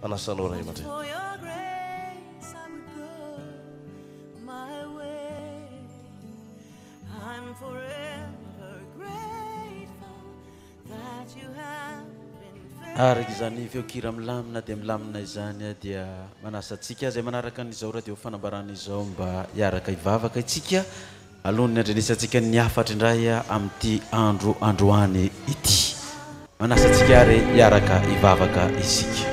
Anasa anao Ray aman-dReny. Araka izany feo kira milamina dia milamina izany dia manasa antsika izay manaraka an'izao radio fanambarana izao mba hiaraka hivavaka itsika. Alohan'ny handrenesantsika ny hafatra indray amin'ity andro androany ity, manasa antsika ary hiaraka hivavaka isika.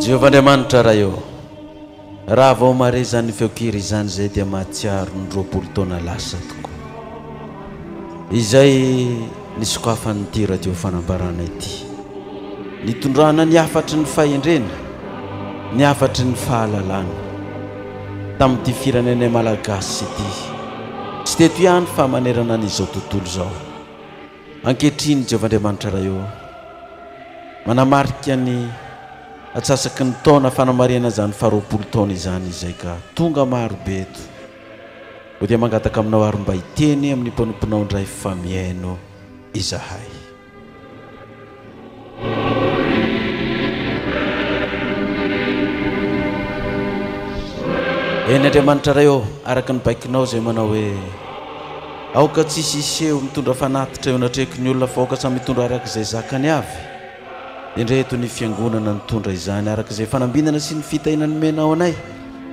Jehovah Andriamanitra Ray ô! Raha vao mahare izany feon-kira izany izay dia mahatsiaro ny roapolo taona lasa tokoa izay nisokafan'ity Radio Fanambarana ity, nitondrana ny hafatry ny fahendrena, ny hafatry ny fahalalana tamin'ity firenenay Malagasy ity, tsy teto ihany fa manerana an'izao tontolo izao. Ankehitriny, Jehovah Andriamanitra Ray ô, manamarika ny atsasaky ny taona fanamarihana izany faharoapolo taona izany izay ka tonga maro be eto. Koa dia mangataka aminao àry mba hiteny amin'ny mpanomponao indray fa mihaino izahay. Eny Andriamanitra Ray ô, araka ny baikonao izay manao hoe, Aoka tsy hisy hiseho mitondra fanatitra eo anatrehiky ny olona fa aoka samy hitondra araka izay zakany avy. Indreto ny Fiangonana nitondra izany araka izay fanambinana sy ny fitahiana nomenao anay.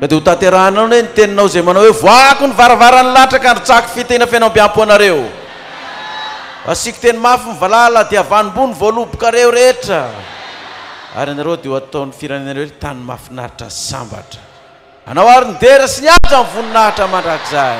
Ka dia ho tanterahinao anie ny teninao izay manao hoe, Voahako ny varavaran'ny latraka handrotsahako fiteny feno ambiampo anareo. Asiako teny mafy ny valala, dia havanom-boa ny voalobokareo rehetra, ary ianareo dia ho ataon'ny firenenareo hoe tany mahafinaritra sy sambatra. Hanao àry ny dera sy ny haja ny voninahitra mandrakizay.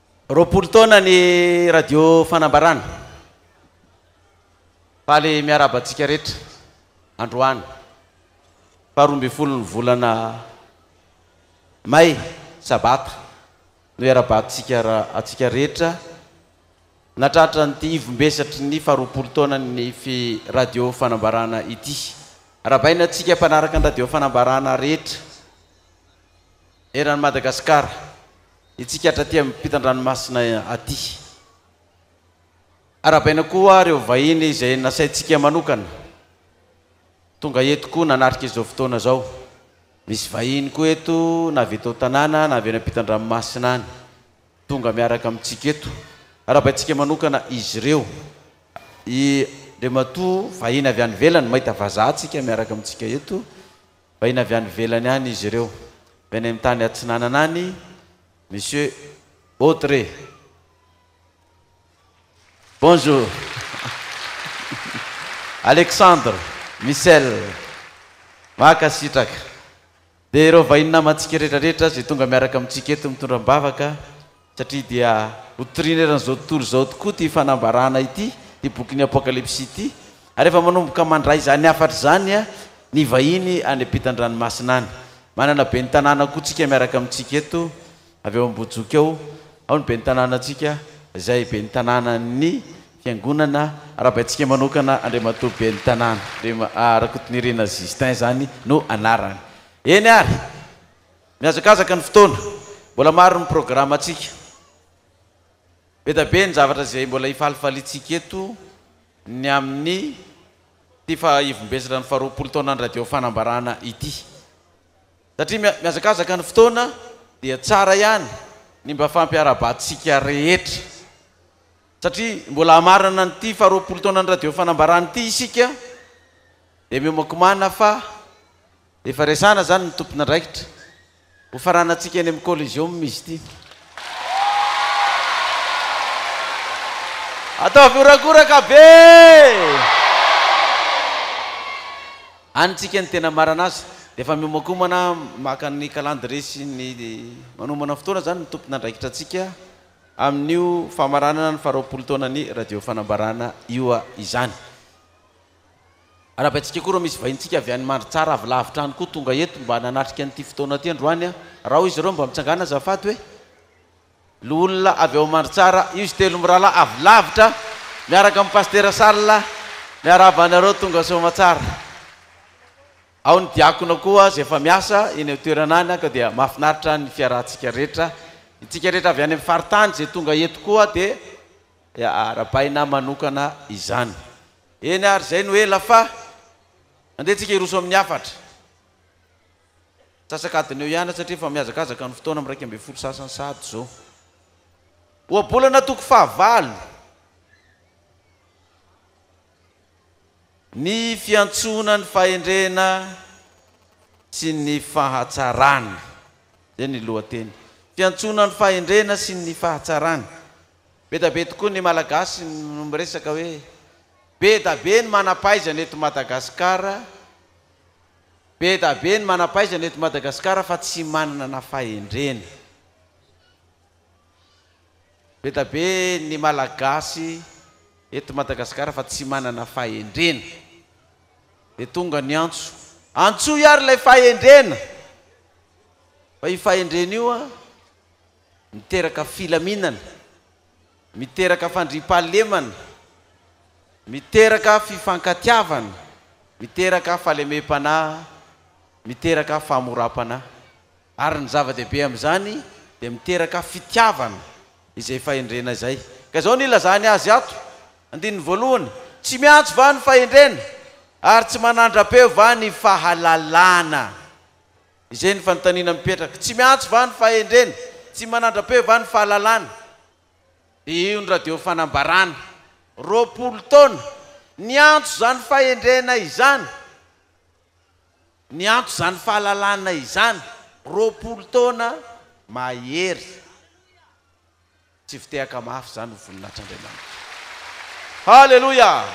Roapolo taona ny Radio Fanambarana. Faly miarahaba antsika rehetra androany faharoa ambin'ny folo ny volana May sabata no iarahabantsika antsika rehetra natratra an'ity ivombesatry ny faharoapolo taona ny Radio Fanambarana ity. Arabaina antsika mpanaraka ny Radio Fanambarana rehetra eran'i Madagasikara. Isika hatraty ampitan-dranomasina aty. Arabaina koa ireo vahiny izay nasaintsika manokana tonga eto koa nanatrika izao fotoana izao. Misy vahiny koa eto na avy eto an-tanàna na avy any ampitan-dranomasina any tonga miaraka amintsika eto. Arabaintsika manokana izy ireo. I Andriamatoa vahiny avy any ivelany, mahita vazaha tsika miaraka amintsika eto. Vahiny avy any ivelany any izy ireo. Avy any amin'ny tany atsinanana any Monsieur Autre. Bonjour. Alexandre, Michel. Mankasitraka. Dia ireo vahiny namantsika rehetra rehetra izay tonga miaraka amintsika eto mitondra am-bavaka. satria dia ho toriana eran'izao tontolo izao tokoa ity fanambarana ity, ity bokin'ny Apokalypsy ity, ary efa manomboka mandray izany hafatra izany ny vahiny any am-pitan-dranomasina any. Manana ben'ny tanàna koa tsika miaraka amintsika eto, avy ao Ambohijoky ao, ao ny ben'ny tanànantsika, izay ben'ny tanànan'ny fiangonana arahabaintsika manokana, Andriamatoa ben'ny tanàna, Andriama, Rakotonirina Justin izany no anarany. Eny ary! Mihazakazaka ny fotoana, mbola maro ny programantsika. Be da be ny zavatra izay mbola hifalifaliantsika eto ny amin'ny ity faha-ivombesatra ny faharoapolo taonan'ny Radio Fanambarana ity. Satria mihazakazaka ny fotoana dia tsara ihany ny mba fampiara-batsika rehetra. Satria mbola hamarana an'ity faharoapolo taonan'ny Radio Fanambarana ity isika dia miomakomana fa. Efa resahana izany ny tompon'andraikitra. Ho faranantsika eny amin'ny Coliseum izy ity. Ataovy horagoraka be! Any tsika ny tena marana azy dia efa miomankomana maka ny calendrier sy ny manomana fotoana izany ny tompon'andraikitra antsika amin'io famaranana ny faharoapolo taonan'ny Radio Fanambarana io izany. Arabaintsika koa ireo misy vahinintsika avy any Mandritsara avy lavitra any koa tonga eto mba nanatrika an'ity fotoana ity androany a! Rao izy ireo mba mitsangàna azafady hoe Loholona avy ao Mandritsara io izy telo mirahalahy avy lavitra miaraka amin'i Pasitera Charles miarahaba anareo tonga soamatsara. Ao ny diakona koa izay efa miasa eny an-toerana any ka dia mahafinaritra ny fiarahantsika rehetra. Itsika rehetra avy any amin'ny faritany izay tonga eto koa dia arabaina manokana izany. Eny ary izay no ela fa. Andeha tsika hiroso amin'ny hafatra. Antsasak'adiny eo ihany satria efa mihazakazaka ny fotoana amin'ny iraika ambin'ny folo sasany sahady izao. Ohabolana toko fahavalo. Ny fiantsoana ny fahendrena sy ny fahatsarana. Izay ny lohateny. Fiantsoana ny fahendrena sy ny fahatsarana. Be da be tokoa ny Malagasy no miresaka hoe be da be ny manam-pahaizana eto Madagasikara, be da be ny manam-pahaizana eto Madagasikara fa tsy manana fahendrena. Be da be ny Malagasy eto Madagasikara fa tsy manana fahendrena. Dia tonga ny antso, antsoy ary ilay fahendrena fa io fahendrena io an! Miteraka filaminana, miteraka fandriampahalemana, miteraka fifankatiavana, miteraka fahalemem-panahy, miteraka fahamoram-panahy. Ary ny zava-dehibe amin'izany dia miteraka fitiavana izay fahendrena izay. Ka izao no ilazany azy ato, andininy voalohany, Tsy miantso va ny fahendrena, ary tsy manandra-peo va ny fahalalana? Izay ny fanontaniana mipetraka. Tsy miantso va ny fahendrena? Tsy manandra-peo va ny fahalalana? Dia io ny radio fanambarana. Roapolo taona, niantso izany fahendrena izany, niantso izany fahalalana izany. Roapolo taona mahery. Tsy fitehaka mafy izany ho voninahitr'Andriamanitra. Haleloia!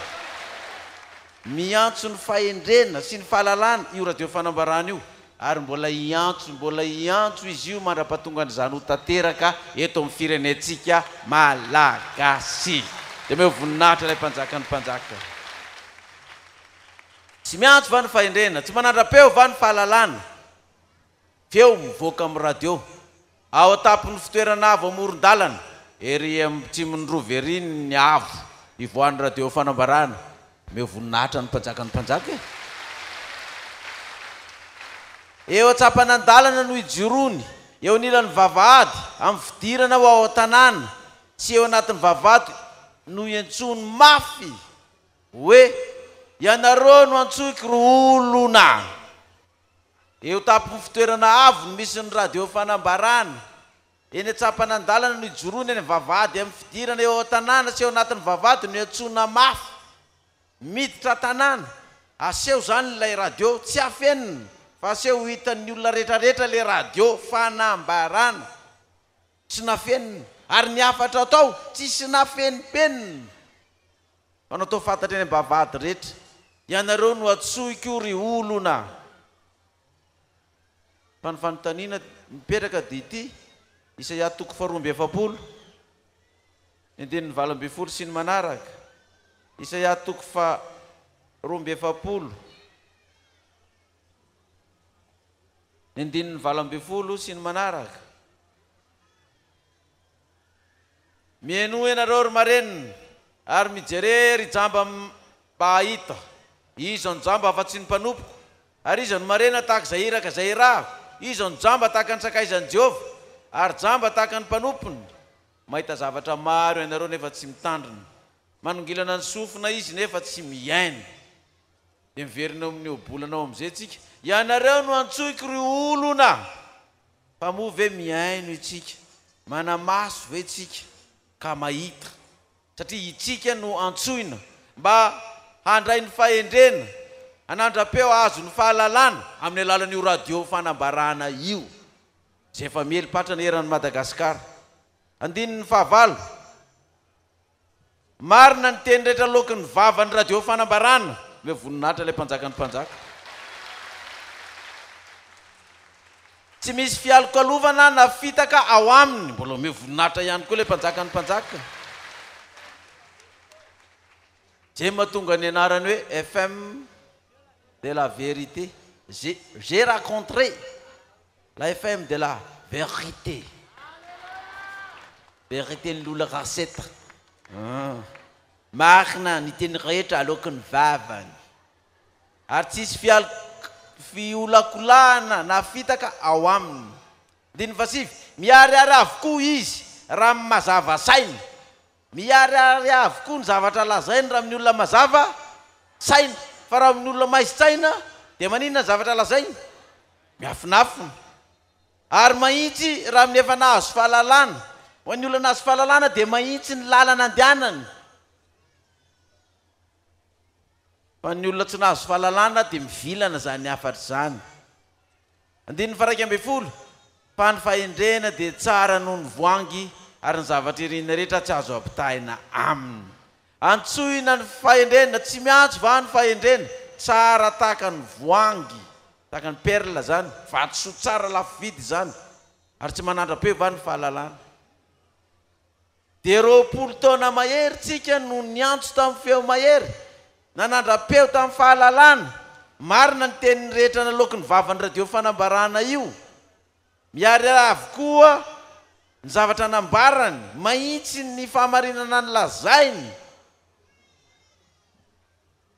Miantso ny fahendrena sy ny fahalalana io radio fanambarana io, ary mbola hiantso, mbola hiantso izy io mandra-pahatongan'izany ho tanteraka eto amin'ny firenentsika Malagasy. Dia omeo voninahitra ilay Mpanjakan'ny mpanjaka. Tsy miantso va ny fahendrena? Tsy manandra-peo va ny fahalalana? Feo mivoaka amin'ny radio. Ao an-tampon'ny fitoerana avo amoron-dalana, ery atsimon'i Rova ery ny avo ivoahan'ny radio Fanambarana. Omeo voninahitra ny Mpanjakan'ny mpanjaka e! Eo an-tsampanan-dalana no ijoroany, eo anilan'ny vavahady, amin'ny fidirana ho ao an-tanàna sy eo anatin'ny vavahady no iantsoany mafy hoe, Ianareo no antsoiko ry olona! Eo tampon-fitoerana avo no misy ny radio fanambarana. Eny an-tsampanan-dalana no ijoroany any vavahady amin'ny fidirana eo an-tanàna sy eo anatin'ny vavahady no iantsoana mafy. Miditra an-tanàna, aseho izany ilay radio, tsy afenina fa aseho ho hitan'ny olona rehetrarehetra ilay radio fanambarana. Tsy nafenina. Ary ny hafatra tao, tsisy nafenimpenina. Mpanotao fantatra eny ambavahady rehetra. Ianareo no antsoiko ry olona. Fa ny fanontaniana mipetraka dia ity, Isaia toko faharoa amby efapolo, ny andininy valo ambin'ny folo sy ny manaraka, Isaia toko faharoa amby efapolo, ny andininy valo ambin'ny folo sy ny manaraka, Mienoa ianareo ry marenina ary mijere ry jamba mba hahita. Iza no jamba afa tsy ny mpanompoko? Ary iza no marena tahaka izay iraka izay iraho? Iza no jamba tahaka ny sakaizan'i Jehovah, ary jamba tahaka ny mpanompony? Mahita zavatra maro ianareo nefa tsy mitandrina, manongilana ny sofina izy nefa tsy mihaino. Dia miverina eo amin'ny ohabolana ao amin'izay tsika. Ianareo no antsoiko ry olona. Fa moa ve mihaino itsika, manamaso ve tsika ka mahita, satria itsika no antsoina mba handray ny fahendrena, hanandra-peo hahazo ny fahalalana amin'ny alalan'io radio fanambarana io izay efa miely patrana eran'i Madagasikara. Andininy fahavalo. Marina ny teny rehetra loaky ny vava ny radio fanambarana le voninahitra le mpanjaka ny mpanjaka. Tsy misy fialokalovana na fitaka ao aminy mbola omeo voninahitra ihany koa le mpanjaka ny mpanjaka. Zay matonga ny anarany hoe FM de la vérité. J'ai j'ai racontre. La FM de la vérité Vérité ny lola raseta ah marina ny teny rehetra aloaky ny vavany ary tsisy fial fiolakolahana na fitaka ao aminy andininy fahasivy miharihary avokoa izy raha mazava saina Miharihary avokoa ny zavatra lazainy raha amin'ny olona mazava saina, fa raha amin'ny olona maizin-tsaina dia maninona ny zavatra lazainy? Miafinafina. Ary mahitsy raha amin'ny efa nahazo fahalalana. Ho an'ny olona nahazo fahalalana dia mahitsy ny lalana andehanany. Fa ny olona tsy nahazo fahalalana dia mivilana izany hafatra izany. Andininy faharaika ambin'ny folo, Fa ny fahendrena dia tsara noho ny voangy, ary ny zavatra irinina rehetra tsy azo ampitahaina aminy. Antsoina ny fahendrena, tsy miantso va ny fahendrena? Tsara tahaka ny voangy, tahaka ny perla izany, vatosoa tsara lafo vidy izany, ary tsy manandra-peo va ny fahalalana? dia roapolo taona mahery tsika no niantso tamin'ny feo mahery na nandra-peo tamin'ny fahalalana marina ny teniny rehetra naloaky ny vavan'ny radio fanambarana io miharihary avokoa ny zavatra nambarany mahitsy ny fahamarinana ny lazainy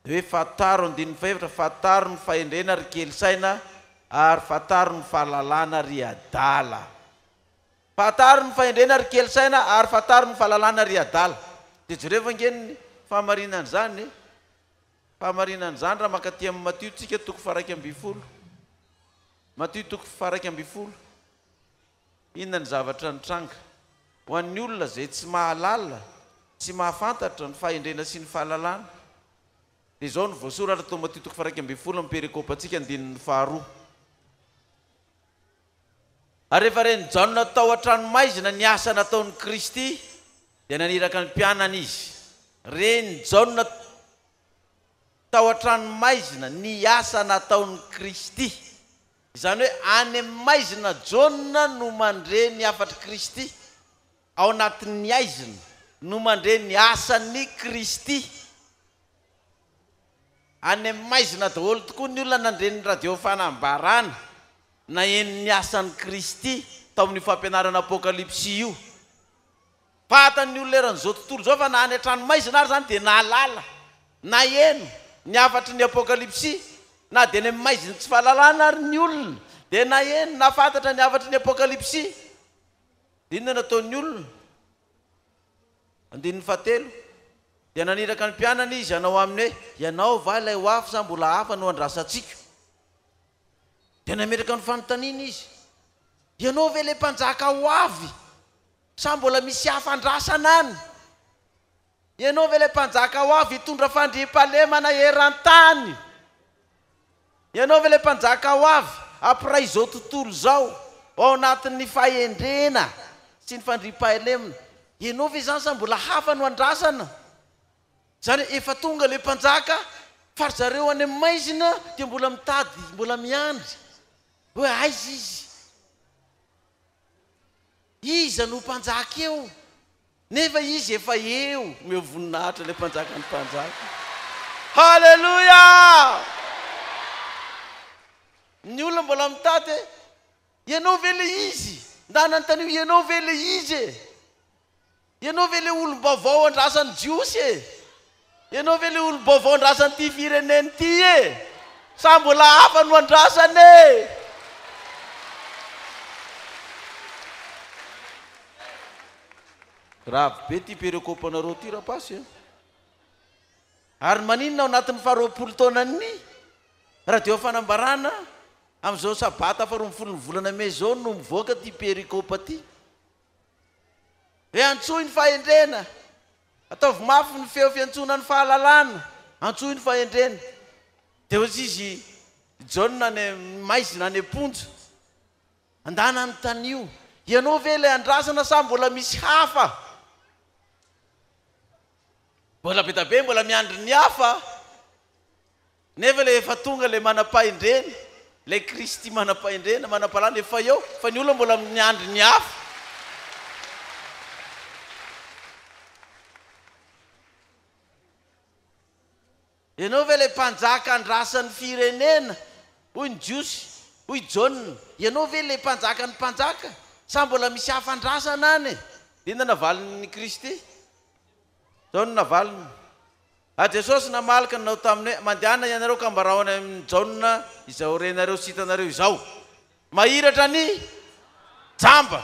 hoe fantaro andininy fahefatra fantaro ny fahendrena ry kely saina ary fantaro ny fahalalana ry adala. Fantaro ny fahendrena ry kely saina ary fantaro ny fahalalana ry adala. Dia jereo ange ny fahamarinan'izany e! Fahamarinan'izany raha mankaty amin'ny Matio tsika toko faharaika ambin'ny folo. Matio toko faharaika ambin'ny folo. Inona ny zavatra nitranga? Ho an'ny olona izay tsy mahalala, tsy mahafantatra ny fahendrena sy ny fahalalana, dia izao no voasoratra tao Matio toko faharaika ambin'ny folo amin'ny perekopantsika andininy faharoa. Ary rehefa ren'i Jaona tao an-tranomaizina ny asa nataon'i Kristy, dia naniraka ny mpianany Izy. Ren'i Jaona tao an-tranomaizina ny asa nataon'i Kristy. Izany hoe any amin'ny maizina Jaona no mandre ny hafatr'i Kristy, ao anatin'ny aizina no mandre ny asan'i Kristy. Any amin'ny maizina daholo tokoa ny olona nandre ny Radio Fanambarana, naheno ny asan'i Kristy tao amin'io fampianarana Apokalypsy io. Pata ny olona eran'izao tontolo izao fa na any an-tranomaizina ary izany dia nahalala, naheno, ny hafatry ny Apokalypsy. Na dia any amin'ny maizin'ny tsy fahalalana ary ny olona dia naheno, nahafantatra ny hafatry ny Apokalypsy. Inona no ataon'ny olona? Andininy fahatelo, Dia naniraka ny mpianany Izy hanao aminy hoe, Ianao va ilay ho avy sa mbola hafa no andrasantsika? Dia nametraka ny fanontaniana Izy, Ianao ve ilay Mpanjaka ho avy sa mbola misy hafa andrasana any? Ianao ve ilay Mpanjaka ho avy hitondra fandriampahalemana eran-tany? Ianao ve ilay mpanjaka ho avy hampiray izao tontolo izao ao anatin'ny fahendrena sy ny fandriampahalemana? Ianao ve izany sa mbola hafa no andrasana? Izany efa tonga ilay mpanjaka fa ry zareo any amin'ny maizina dia mbola mitady, mbola miandry hoe aiza izy? Iza no ho mpanjaka eo? Nefa izy efa eo no eo voninahitra ilay mpanjaka ny mpanjaka. Haleloia! Ny olona mbola mitady hoe ianao ve ilay izy? Ndà anontanio ianao ve ilay izy e? Ianao ve ilay olom-baovao andrasan'ny Jiosy e? Ianao ve le olom-baovao andrasan'ity firenena ity e? Sa mbola hafa no andrasana e? Grave be ity perekopanareo ity rapasy a! Ary maninona ao anatin'ny faha roapolo taonan'ny radio ao fanambarana amin'izao sabata faha roa ambin'ny folon'ny volana mey izao no mivoaka ity perekopa ity? Hoe antsoy ny fahendrena! Ataovy mafy ny feo fiantsoana ny fahalalana, antsoy ny fahendrena. Dia hozy izy Jaona any maizina any am-ponja, Andana anontanio, ianao ve ilay andrasana sa mbola misy hafa? Mbola be dia be mbola miandry ny hafa. Nefa le efa tonga le manam-pahendrena, le Kristy manam-pahendrena, manam-pahalala efa eo, fa ny olona mbola miandry ny hafa. Ianao ve le mpanjaka andrasan'ny firenena? hoy ny Jiosy. Hoy Jaona, Ianao ve le mpanjakan'ny mpanjaka? Sa mbola misy hafa andrasana any e? Dia inona navaliny Kristy? Zao no navaliny, A Jesosy namaly ka nanao taminy hoe, Mandehana ianareo ka ambarao any amin'i Jaona izay ho renareo sy hitanareo izao. Mahiratra ny jamba.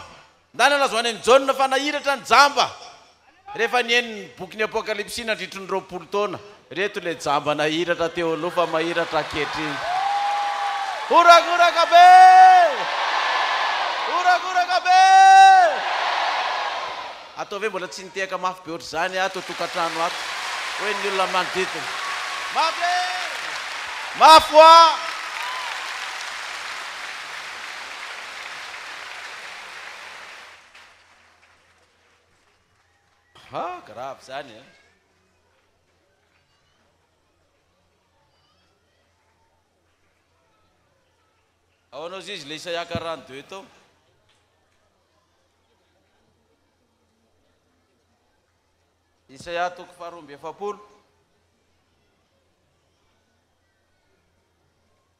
Na nalaza ho any amin'i Jaona fa nahiratra ny jamba. Rehefa nihaino ny bokin'ny Apokalypsy nandritry ny roapolo taona, ireto ilay jamba nahiratra teo aloha fa mahiratra ankehitriny. Horagoraka be! Horagoraka be! Atao ve mbola tsy nitehaka mafy be ohatr'izany ato an-tokantrano ato hoe ny olona manodidina. Mafy e! Mafy hoa! Ha! Grave izany e! Ahoana ozy izy le isaiaka rano de hoe tao. Isaia toko faharoa amby efapolo.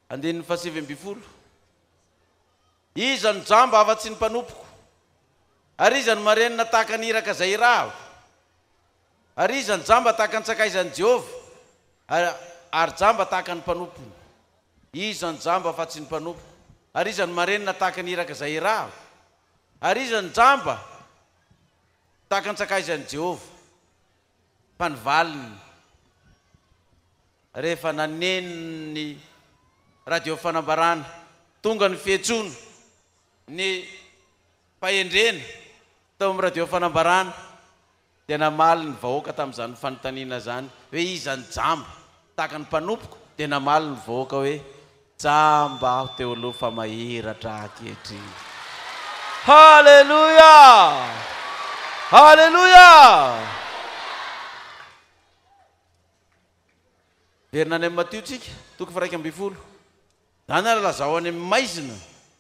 Andininy fahasivy ambin'ny folo. Iza no jamba afa-tsy ny mpanompoko? Ary iza no marenina tahaka ny iraka izay irahako? Ary iza no jamba tahaka ny sakaizan'i Jehovah, ary jamba tahaka ny mpanompony? Iza no jamba afa-tsy ny mpanompoko? Ary iza no marenina tahaka ny iraka izay irahako? Ary iza no jamba tahaka an-tsakaizan'i Jehovah? Fa ny valiny, rehefa naneno ny radio fanambarana, tonga ny fiantsoana, ny fahendrena tao amin'ny radio fanambarana, Dia namaly ny vahoaka tamin'izany fanontaniana izany hoe, Iza ny jamba? tahaka ny mpanompoko? Dia namaly ny vahoaka hoe, Jamba aho teo aloha fa mahiratra ankehitriny. Haleloia! Haleloia! Heverina any amin'ny Matio tsika, toko faha-iraika ambin'ny folo. Zany ary lazao any amin'ny maizina.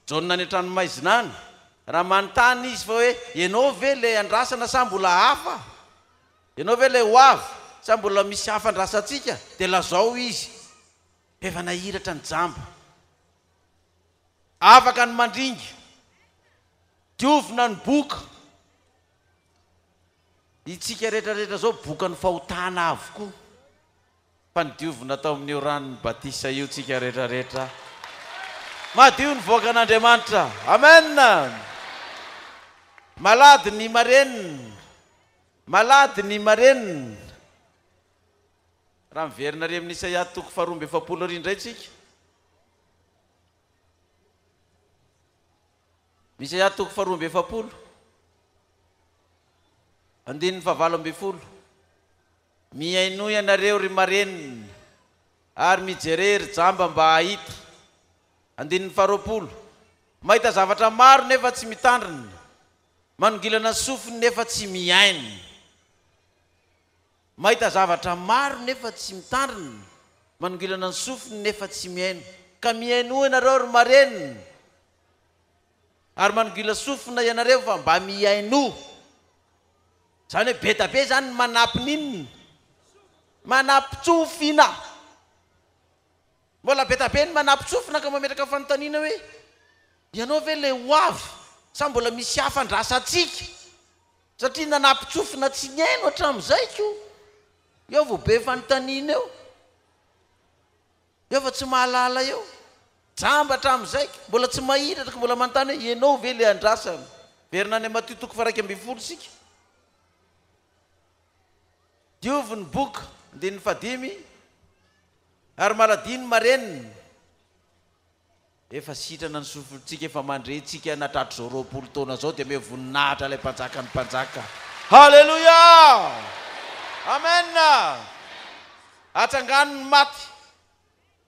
Jaona any an-trano maizina any. Raha manontany izy fa hoe, ianao ve ilay andrasana sa mbola hafa? Ianao ve ilay ho avy sa mbola misy hafa andrasantsika? Dia lazao izy. F'efa nahiratra ny jamba. Afaka ny mandringa. Diovina ny boka. Itsika rehetra rehetra zao bokan'ny fahotana avokoa. fa nodiovina tao amin'io ranon'ny batisa io tsika rehetra rehetra madio nivoaka an'Andriamanitra. Amen! Malady ny marenina, malady ny marenina. Raha miverina ary amin'ny Isaia toko faharoa amby efapolo ary indray tsika. Isaia toko faharoa amby efapolo. Andininy fahavalo ambin'ny folo. Mihainoa ianareo ry marenina ary mijerea ry jamba mba hahita. Andininy faharoapolo, Mahita zavatra maro nefa tsy mitandrina, manongilana ny sofiny nefa tsy mihaino. Mahita zavatra maro nefa tsy mitandrina, manongilana ny sofiny nefa tsy mihaino. Ka mihainoa ianareo ry marenina. Ary manogila sofina ianareo fa mba mihainoa. Izany hoe be da be izany ny manapy ny inona? Manapy tsofina. Mbola be da be ny manapy tsofina ka mametraka fanontaniana hoe, ianao ve ilay ho avy sa mbola misy hafa andrasantsika? Satria nanapy tsofina tsy nihaino hatramin'izay koa. Eo vao be fanontaniana eo. Eo fa tsy mahalala eo. Jamba hatramin'ny zaiko. Mbola tsy mahita atriko mbola manontany hoe ianao ve ilay andrasana. Miverina any Matio toko faha iraika ambin'ny folo isika. Diovy ny boka, andininy fahadimy, ary maladihy ny marenina. Efa sitrana ny sofintsika, efa mandre tsika na tratrizao roapolo taona zao dia meo voninahitra ilay mpanjaka ny mpanjaka. Haleloia! Amen! Atsangano ny maty,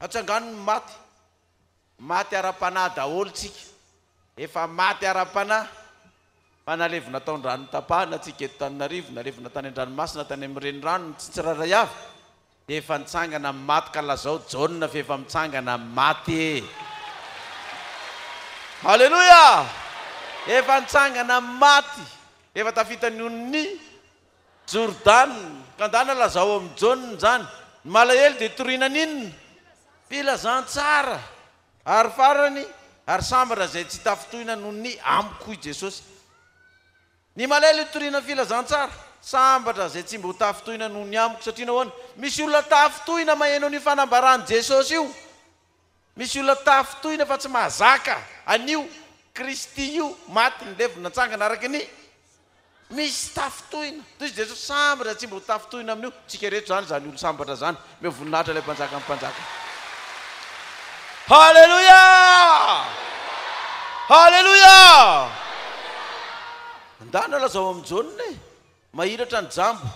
atsangano ny maty, maty ara-panahy daholo tsika, efa maty ara-panahy, fa nalevina tao an-dranotapahana tsika eto Tananarivo, nalevina tany an-dranomasina, tany amin'ny renirano, ny tsy tsirairay avy, Dia efa nitsangana amin'ny maty ka lazao Jaona f'efa mitsangana amin'ny maty e! Haleloia! Efa nitsangana amin'ny maty, efa tafita ny onin'ny Jordana. Ka ndana lazao amin'i Jaona izany. Ny malahelo dia toriana an'inona? Filazantsara. Ary farany, ary sambatra izay tsy tafintohina noho ny amiko hoy Jesosy. Ny malelo itoriana filazantsara, sambatra, izay tsy mba ho tafintohina noho ny amiko, satria nahoana? Misy olona tafintohina maheno an'io fanambaran'i Jesosy io. Misy olona tafintohina fa tsy mahazaka an'io Kristy io maty, nilevina, natsangana araka ny. Misy tafintohina. Tohizo Jesosy, sambatra, izay tsy mba ho tafintohina amin'io. Tsika rehetra izany, izany olon-sambatra izany. Omeo voninahitra ilay Mpanjakan'ny mpanjaka. Haleloia! Haleloia! Andana lazao amin'ny jaune e. Mahiratra ny jambo.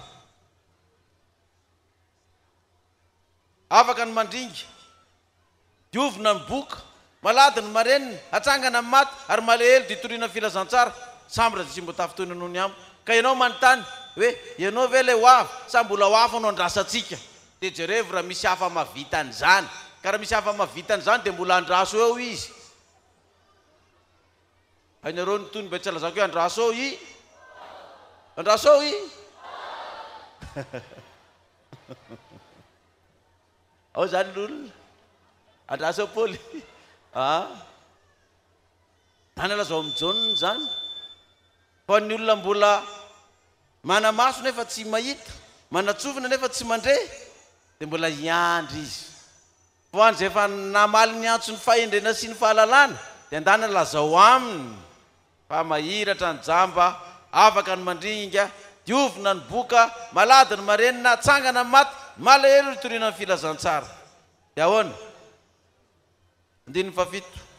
Afaka ny mandringa. Diovina ny boka. Malady ny marenina, hatsangana ny maty, ary malahelo dia hitoriana ny filazantsara. Samy rajotsimboatafo toy ny noho ny amo. Ka ianao manontany, hoe, ianao ve ilay ho avy, sa mbola ho hafa no andrasantsika? Dia jerevo raha misy hafa mahavita an'izany. Ka raha misy hafa mahavita an'izany, dia mbola andraso eo izy. Hainareo ny tohiny mba tsy halazako hoe andraso eo i? Andraso eo i? Ao zany lolona. Andraso Paoly. Ah. Anana zao amin'ny Jaona zany. Ho an'ny olona mbola manamaso nefa tsy mahita, manatsofina nefa tsy mandre, dia mbola hiandry izy. Ho an'izay efa namaly ny antson'ny fahendrena sy ny fahalalana, dia andanana lazao aminy Fa mahiratra ny jamba, afaka ny mandringa, diovina ny boka, malady ny marenina, atsangana ny maty, malahelo ny toriana ny filazantsara. Dia ahoana? Andininy fahafito,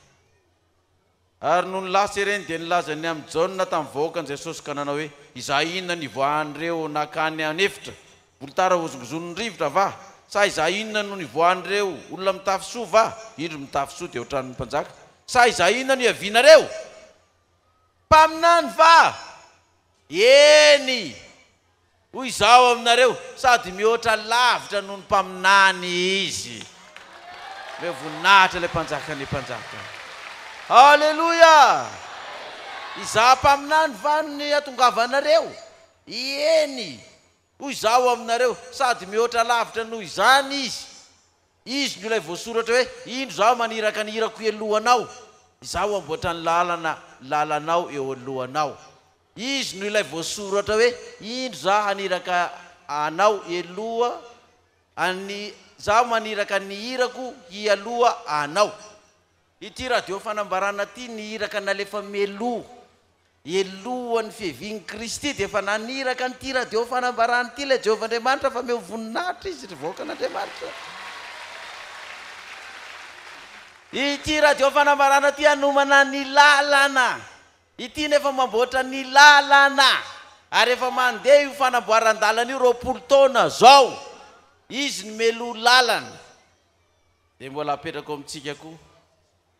Ary nony lasa ireny dia nilaza ny amin'i Jaona tamin'ny vahoakan'i Jesosy ka nanao hoe, Izaho inona no hivoahan'ireo nankany an'efitra? Volotara hozongozon'ny rivotra va? Sa izaho inona no nivoahan'ireo olona mitafy soa va? Indro mitafy soa dia hoatran'ny mpanjaka. Sa izaho inona no iavianareo? Mpaminany va? Eny, hoy izaho aminareo, sady mihoatra lavitra noho ny mpaminany izy. Omeo voninahitra ilay Mpanjakan'ny mpanjaka. Aleloia! Izaho mpaminany va no nihatongavanareo? Eny. Hoy Izaho aminareo, sady mihoatra lavitra noho izany izy. Izy no ilay voasoratra hoe, Indro Izaho maniraka ny irako elohanao, Izaho hamboatra ny lalana lalanao eo alohanao. Izy no ilay voasoratra hoe, Indro Izaho haniraka anao eloha an'ny, Izaho maniraka ny irako hialoha anao. Ity radio fanambarana ity ny iraka nalefa mialoha elohan'ny fiavian'i Kristy dia efa naniraka an'ity radio fanambarana ity ilay Jehovah Andriamanitra fa miha ho voninahitra izy ry vahoakan'Andriamanitra. Ity radio fanambarana ity hanomana ny lalana Ity nefa mamboatra ny lalana ary efa mandeha io fanamboaran-dalana io roapolo taona zao izy no meloha lalana dia mbola apetrako amintsika koa.